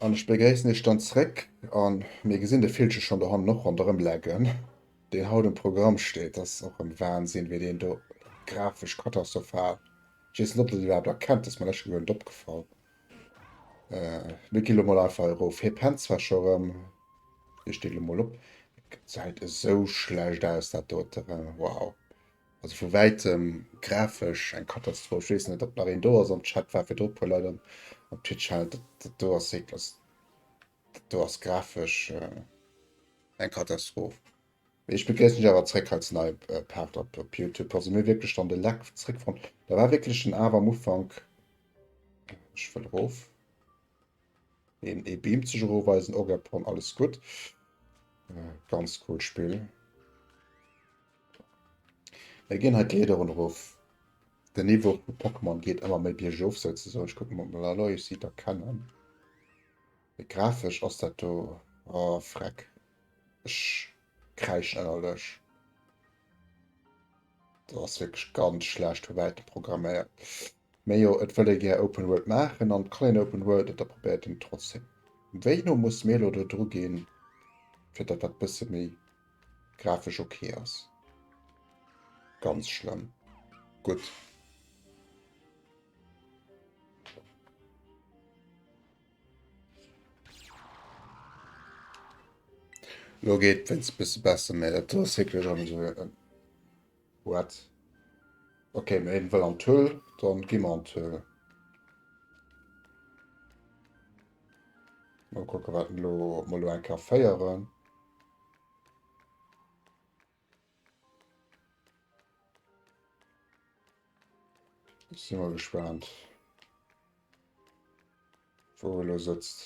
An ech begréissen iech dann zréck an mir gesinn de Villche schon do hannen och ronderëm leggen, deen haut um Programm steet. Dat ass och en Wahnsinn, wéi deen do grafesch katastrophal, ech weess net, ob der déi iwwerhaapt erkennt, dat ass mer lech guer net opgefall. Mir ginn elo mol einfach erof. Hie pennt zwar scho erëm, hie steet elo mol op. Gesäit esou schlecht aus, dat dote. Wow. Also vu wäitem grafesch eng Katastroph. Ech weess net, ob nach een do ass am Chat. War virdru e puer Leit am Twitch. Dat do ass wierklech, dat do ass grafesch eng Katastroph. Ech begréissen iech awer zréck als nei Part op op Youtube. Also mir wierklech dann de Leck zréck fonnt. Da war wierklech den Awe am Ufank. Ech wëll erof. Een e Beam zech erofweisen, Ogapon, alles gutt. Äh, ganz cool Spill. Mir ginn halt d'Leeder run erof. Den Niveau vu Pokémon geet ëmmer méi biergof souzesoen. Ech kucken, ob mer Aloy si da kennen. Mee grafesch ass dat do, oh freck ech kräischen ennerlech, dat ass wierklech ganz schlecht vu wäitem programméiert. Mee jo et wëll ee gär Open World maachen an et kann een Open World et da probéiert een et trotzdem. Wéi no muss mir elo do dru ginn fir dat dat bësse méi grafesch ok ass? Ganz schlëmm, gutt. Lo geet wéinst e bësse besser, mä dat ass wierklech an esou e What? Ok, mä hien wëll an d'Höhl, dann gi mer an d'Höhl. Mol kucken wat en elo, ob mer elo eng Kéier féieren. Ech si mol gespaant, wou e lo sëtzt.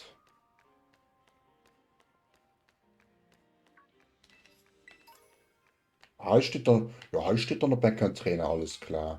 Hei steet dann, jo hei steet dann op Enkentrena, alles klar.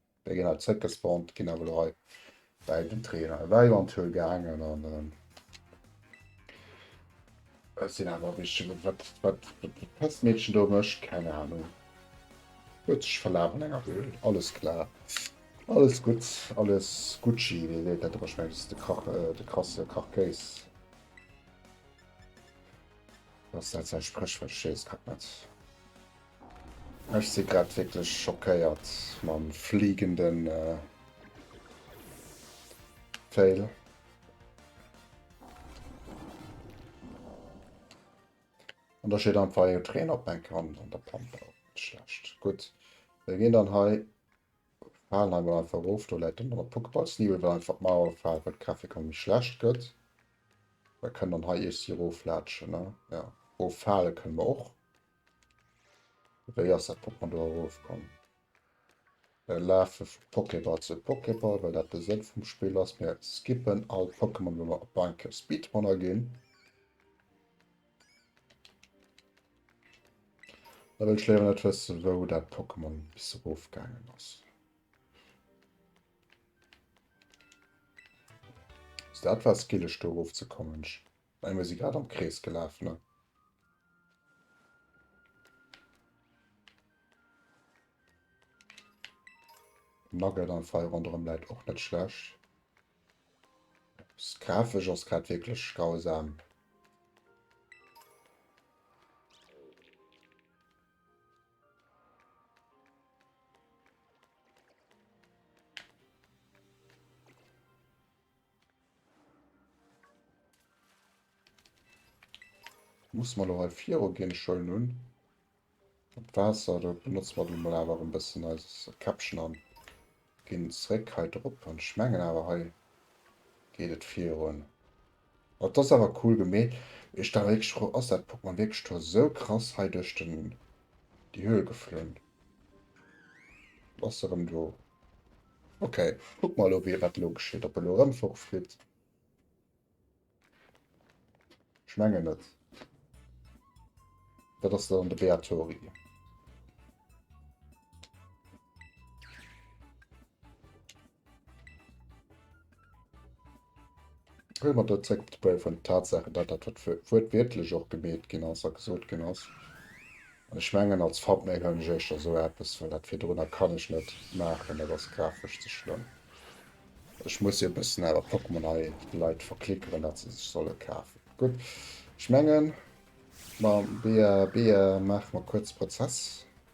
Déi ginn hei zréckgespannt, ginn awer elo hei bäi den Trainer eventuell gaangen an ähm, et sinn awer wéi wat wat d'Pestmeedchen do mécht, keng Ahnung. Huet sech verlaf an enger Höhl, alles klar. Alles gutt, alles Gucci, wéi seet dat ëmmer scho menges, de Krach, äh, de krasse Krachkéis. Ass dat säi Spréchwuert? Ech weess grad net. Ech si grad wierklech schockéiert mam fliegende Fail. An da steet einfach e Trainer op meng Kand an der Pampe. Dat ass schlecht. Gutt, mir ginn dann hei Falenheim mol einfach erof. Do läit dann nach e Pokeballsneebel, well einfach d'Mauer gefal war, d'Grafik elo méi schlecht gëtt. Mir kënnen dann hei iech si eroflaatschen, ne? Jo, erofhale kënne mer och. Wéi ass dat Pokémon do erof komm? Mir lafe vu Pokéball zu Pokéball, well dat de Sënn vum Spill ass. Mir skippen all d'Pokémon, wou mer op eng Kéier Speedrunner ginn. Da wëll ech léiwer net wëssen, wou dat Pokémon bis erof gaangen ass. Ass dat war skillech do erof ze kommen? Mä mir si grad am Krees gelaf, ne? Nugget an Feier ronderëm läit och net schlecht. Grafesch ass grad wierklech grausam. Muss mer lo hei viru gin? Schön un dat Waasser. Do benotzen mer lo awer erem bessen eist Käppchen an gin zréck hei drop. An ech mengen awer hei geet et virun. Oh dass awer cool gemeet. Ech war wierklech frou ass dat Pokémon wierklech do esou krass hei duerch den déi Höhl geflunn. Ass erem do. Ok, kuck mer elo wéi wat elo geschitt, ob en elo erëm forflitt. Ech mengen net. Dat ass dann de Beatori. Wëll mer do zréck op de Bouw vun den Tatsaachen, dat dat, wat wuertwiertlech och gemeet ginn ass a gesot ginn ass, an ech mengen, als Thumbnail huelen ech éischter esou eppes, well dat virdrunner kann ech net maachen, dat ass grafesch ze schlëmm. Ech muss jo e bëssen awer Pokémon hei de Leit verklickeren, dat se sech solle kafen. Gutt, ech mengen, mam bea bea maache mer kuerz Prozess.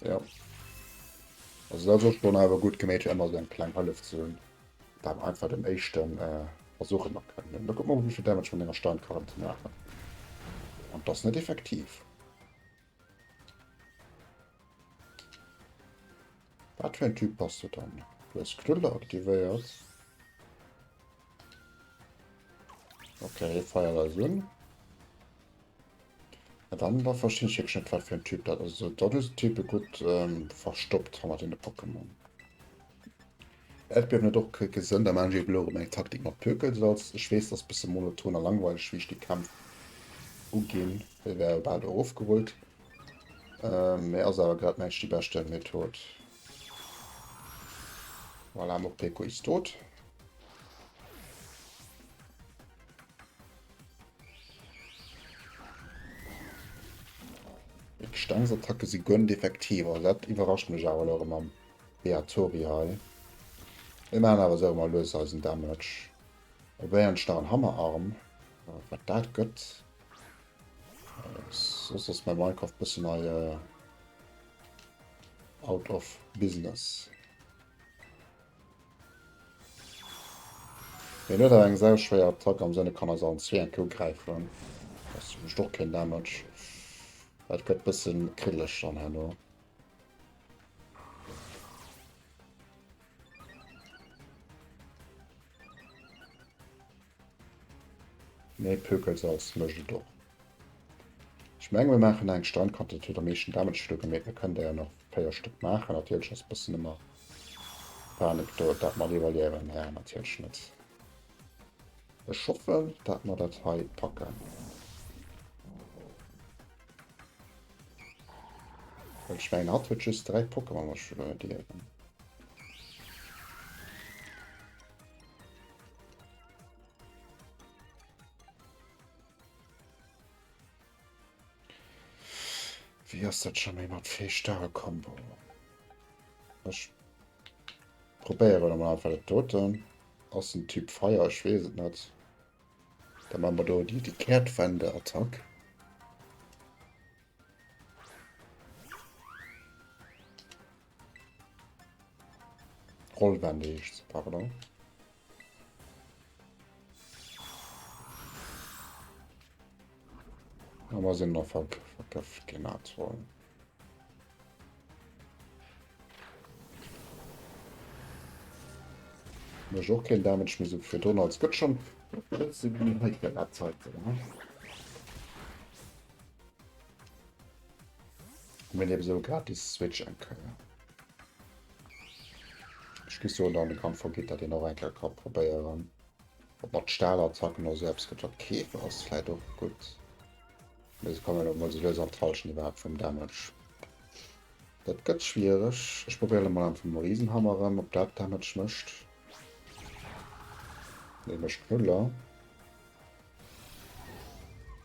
Ja. Also dat ass schon awer gutt geméit fir ëmmer esou eng kleng Hëllef ze hunn. Dat war einfach den éischten äh, Versuch ëmmer kënnen. Da guck mal wéivill Damage vun enger Steinkarren ze maachen. An dat ass net effektiv. Wat fir en Typ bass du dann? Du hast Knüller aktivéiert. Okay, Feier da sinn. Ma dann da verstinn ech wierklech net wat fir en Typ dat ass. Also dat hues de Type gutt verstoppt hannert deene Pokémon. Äerdbiewen huet och kee Sënn, da maachen ech eben elo erëm eng Taktik mat Pökelsalz. Ech weess, dat ass e bësse monoton a langweileg wéi ech déi Kämpf uginn, déi war jo bal erofgerullt, mä ass awer grad mengen ech déi beschte Method. Voilà, Morpeko is dood. D'Gestengsattacke si gönnt effektiv, also dat iwwerrascht mech awer lo mam Beatori hei. Mir machen awer so mal lues eisen Damage. Probéieren nach en Hammerarm, äh, wat dat gött. Äh, soss ass mein Minecraft bëssen hei äh, out of business. Hien huet awer eng sau schwéier Attack am Sënn e kann eis allen zwee eng Kou gräifen. Ass zumlecht och keen Damage. Et gëtt bësse kriddeleg dann herno. Nee Pökelsalz mecht et och. Ech mengen mir machen eng Standquantitéit huet am meeschten Damage do gemeet. Mir kënnen der jo nach 4 Stück machen. Natierlech ass bëssen ëmmer Panik do, dat mer devaluieren Här natierlech net. Ech hoffen dat mer dat hei packen. Well ech mengen hatt huet just 3 Pokémon wat ech verluer dierfen. Wéi ass dat schon méi mat fee starre Kombo? Ech probéieren am Anfang dat doten. Ass en Typ Feier, ech wees et net. Da man wir do die, die Kehrtwende Attack. Rollwende heescht se, pardon. Aber sind noch ver verköpft genannt worden. Mir auch kein Damage mehr so für Donner als Gott schon. Das sind die Zeit. Hu mir eben esou gratis Switch eng Keier. Ech gi soen, dann kann Forgitta deen och eng Keier ka probéieren. Ob mat Stahlattacken oder esou eppes gëtt wat Käfer ass vläit och gutt. Mee se kommen emol sou lues an d'Hallschent iwwerhaapt vum Damage. Dat gëtt schwiereg. Ech probéieren emol am vum Riesenhammer erëm, ob dat Damage mécht. Nee, mécht null.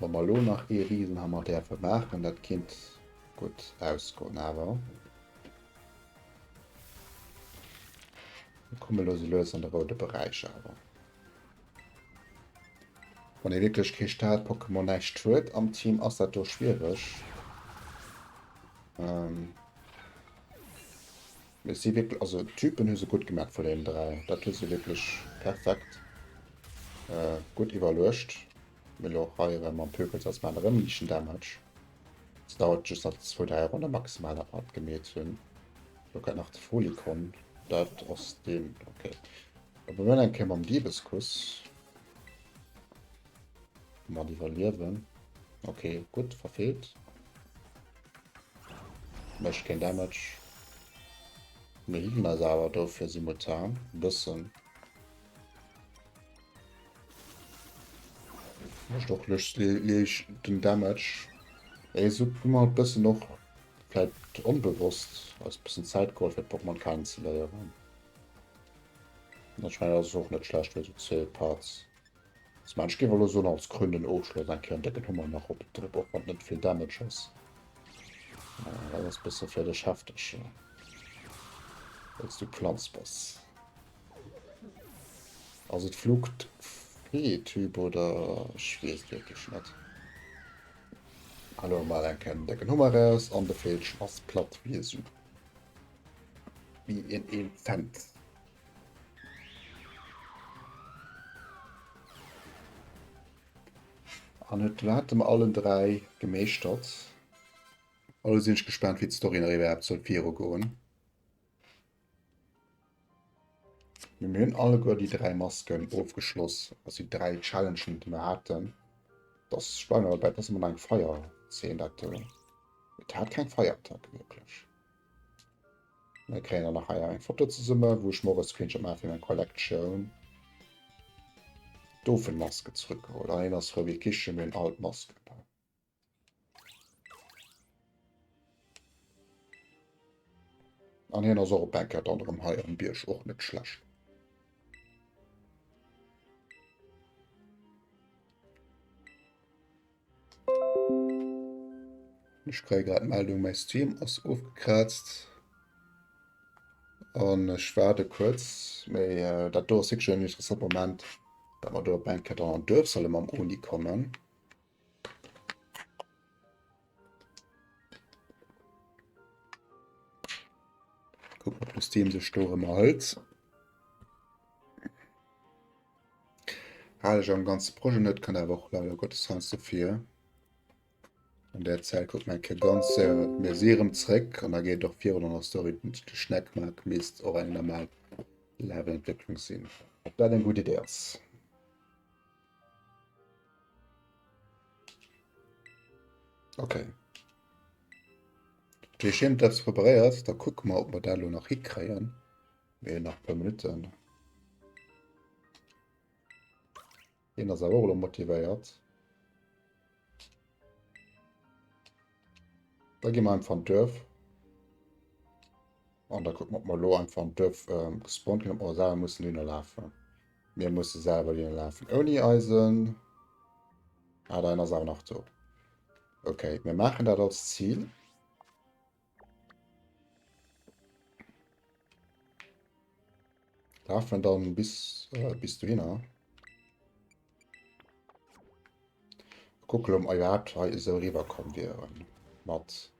Wa mer elo nach ee Risenhammer däerfe maachen, dat kinnt gutt ausgoen. Awer mir komme elo sou lues an de roude Beräich. Awer wann ee wierklech kee Start-Pokémon, näischt, huet am Team, ass dat do schwiereg. Et si wierklech, also d'Typen hu se gutt gemat vun deenen dräi. Dat hu se wierklech perfekt gutt iwwerluecht. Mee elo och hei erëm am Pyrex ass man erëm liichten Damage. Et dauert just nach zwou, dräi Ronnen maximal, dat mer dat gemeet hunn. Elo kënnt nach de Folikon. Dat ass deen, okay. Da probieren wir eng Kéier mam Diebeskuss. Mat iwwerliewen. Okay, gutt, verfeelt. Mécht keen Damage. Mir healen eis awer, dofir si Mutan. Bëssen. Mécht och lech liicht den Damage. Ee Sub hu mer bëssen och vläit onbewosst eis bëssen Zäit geholl, fir d'Pokémon kennenzeléieren. An ech mengen, dat ass och net schlecht fir esou zwee Parts. S, Mä ech géif elo soen als krönenden Ofschloss eng Kéier en décken Hummer nach op den Trip, och wann et net vill Damage ass. Ah, dat ass e bësse fir dech hefteg, jo, wëlls du Planz bass. Ass et Flucht, Fee-Typ oder? Ech weess et wierklech net. Hauen emol eng Kéier den décken Hummer eraus an de Veelchen ass platt wéi e Su. Wéi een ee fennt. An et waert em allen 3 gemeeschtert. Elo sinn ech gespaant wéi d'Story nach iwwerhaapt soll viru goen. Mee mir hunn alleguer déi 3 Masken ofgeschloss, also déi 3 Challengen déi mer haten. Dass ech bleiwen awer dobäi dass et mol nach eng Feier Zeen dat do. Et hat keng Feierattack wierklech. Dann kréien der nach hei eng Foto zesummen, wou ech mor e Screenshot maache fir meng Collection. Dofen Masken zrück geholl, an een ass rou wéi Kichen, mir hunn all d'Masken an. An hien ass och op eng Kéier dann erëm hei am Bierg, och net schlecht. Ech kréie grad d'Meldung, mäi Stream ass ofgekraazt an ech waarde kuerz. Mee dat do ass wierklech en interessante Moment, datt mer do op eng Kéier dann an d'Duerf solle mam Oni kommen. Kucken, ob de Steam sech do erëm erhëlt. Hale ech am ganze Projet net, kann awer och leider Gottes heiansdo vir. An der Zäit guckt man ke ganz äh, mir si erëm zréck an da geet och virun an der Story. Den Schneckmack misst och eng normal Levelentwécklung sinn. Ob dat eng gutt Idee ass? Okay. Déi Scheem dat preparéiert, da kucke mer, ob mer dat lo nach hikréien. Nee, nach e puer Minutten. Deen ass awer och elo motivéiert. Da gehen wir einfach an Dörf. Und da gucken wir, ob wir lo einfach an Dörf ähm, gespawnt können, ob wir selber müssen Linien laufen. Wir müssen selber Linien laufen. Ohne Eisen. Ah, da ist auch noch so. Okay, wir machen das als Ziel. Darf man dann bis, äh, bis du hin, ne? Gucken, ob wir überhaupt hier so rüberkommen wären. Mit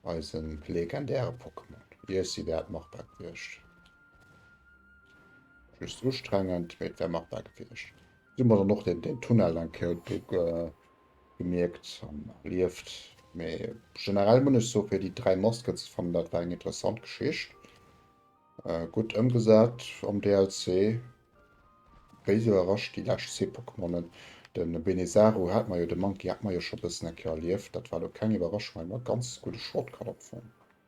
unseren legendären Pokémon. Hier ist sie wert machbar gewesen. Just anstrengend, aber es wäre machbar gewesen. Immer noch den, den Tunnel, den Code, äh, gemierkt an erlieft. Mee generell muss ech so fir déi dräi Muskets fannen dat war eng interessant Geschicht. Äh, gutt ëmgesat am DLC. Wéi se überrascht déi lescht zwee Pokémonen. Den Benezaru hat mer jo, den Monkey hat mer jo scho bëssen eng Kéier erlieft. Dat war lo keng Iwwerraschung, mee mer ganz gudde Shortcut opfonnt.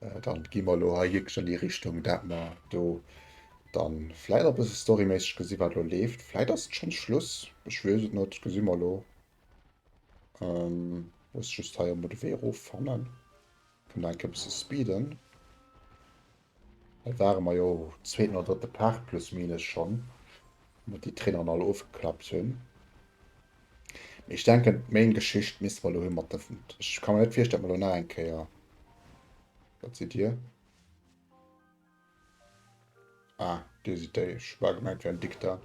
Dann gi mer elo hei wierklech an déi Richtung, dat mer do dann vläit e bësse storyméisseg gesi wat elo leeft. Vläit ass et schonns Schluss, ech weess et net, gesi mer elo. Muss just hei emol de Wee erof fannen. Kënne enke bësse speeden. Hei ware mer jo zweeten oder drëtte Part plus minus schonn, wou mer déi Traineren all ofgeklappt hunn. Mee ech denken main Geschicht misste mer lo hei mat der Wut. Ech kann mer net virstellen dat mer lo nach eng Kéier. Dat sidd dir. Ah dir sidd déi. Ech war gemengt et wär en Dikter.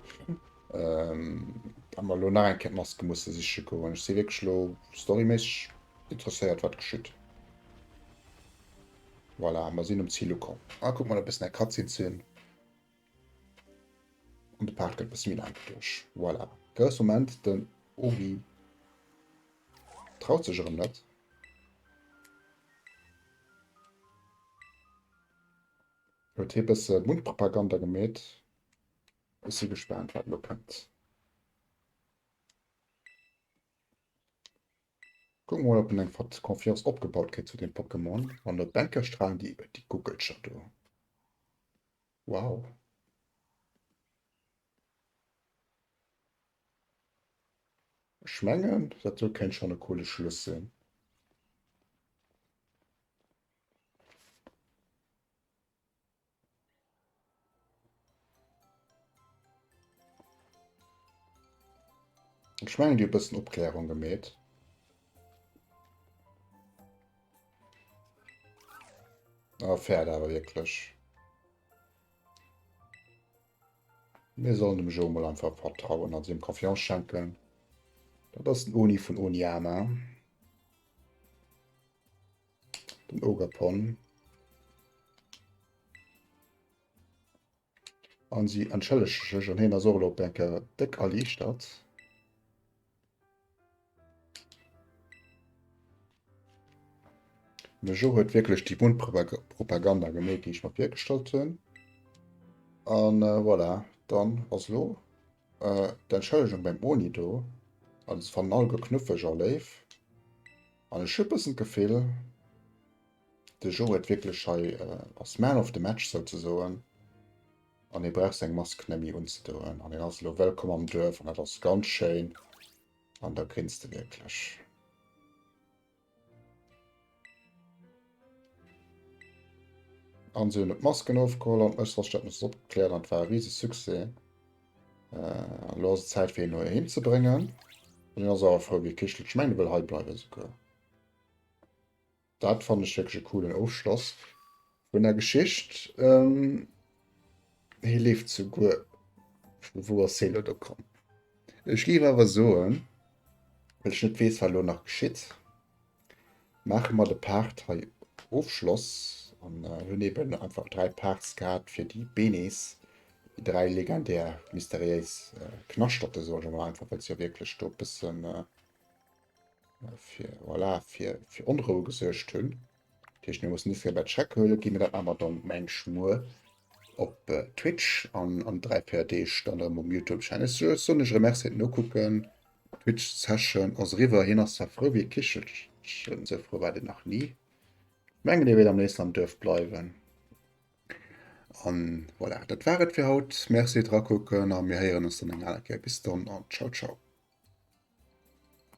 Ähm dat mer lo nach eng Kéier d'Maske musse siche goen. Ech si wierklech lo storyméisseg interesséiert wat geschitt. Voilà mer sinn um Zil ukomm. Ah kuck mol e bëssen eng Cutscene ze hunn. Und de Part gëtt bessi méi laang doduerch. Voilà. Grouss Moment, den Obi traut sech erëm net. Huet hie bësse Mundpropaganda gemeet. Ech si gespaant, wat elo kënnt. Kucken mer mol op en eng Confiance opgebaut kritt zu dem Pokémon. An der Bäcker strahlen déi iwwert déi Guckelcher do. Wow. Ech mengen dat do kennt schon e coole Schluss sinn. Ech mengen déi e bëssen Opklärung gemeet. A ah, fährt awer wierklech. Mir sollen dem Jo mal einfach vertrauen an dem Confiance schenken. Dat ass den Oni vun Oniama. Den Ogerpon. An si entschëllege sech an hien ass och elo op eng Kéier déck erliichtert. De Joe huet wierklech déi Mundpropaganda gemeet, déi ech mer virgestallt hunn. An äh, voilà, dann ass lo äh, d'Entschëllegung beim Oni do. Alles fannnen all geknuffeg a léif. An ech hu bëssen d'Gefill, de Joe huet wierklech hei, ass man of the match souzesoen an hie brauch seng Mask nemmi unzedoen an hien ass elo wëllkomm am Duerf an dat ass ganz schéin an da grinst e wierklech. An si hunn et Masken ofgeholl an Ësterstad muss opgekläert an war e riese Succès. Äh, lo ass et Zäit fir hien no heem ze bréngen. Hien ass awer frou wéi e Kichel. Ech mengen e wëll hei bleiwe souguer. Dat fannen ech wierklech e coolen Ofschloss vun der Geschicht. Ähm, hie leeft souguer. Vu wou ass hie lo do komm? Ech géif awer soen, well ech net weess wat lo nach geschitt. Maache mer de Part hei of Schloss an hunn eben einfach 3 Parts gehat fir déi Benes, déi 3 legendär mysteriéis Knaschterte soe ech emol einfach, well se jo wierklech do e bësse fir, voilà, fir Onroue gesuergt hunn. Dat heescht, mir mussen Ifriem dat Schreck huelen, gi mir dat awer dann mengs muer op Twitch an an dräi, véier Deeg dann erëm um Youtube. Ech soen iech erëm Merci fir d'Nokucken. Twitch Session ass eriwwer, hien ass zwar frou wéi e Kichelchen, esou frou war deen nach ni. Ech mengen dee wéilt am léifsten am Duerf bleiwen. An voilà, dat war et fir haut. Merci fir d'Rakucken a mir héieren ons dann eng aner Kéier. Bis dann an ciao ciao.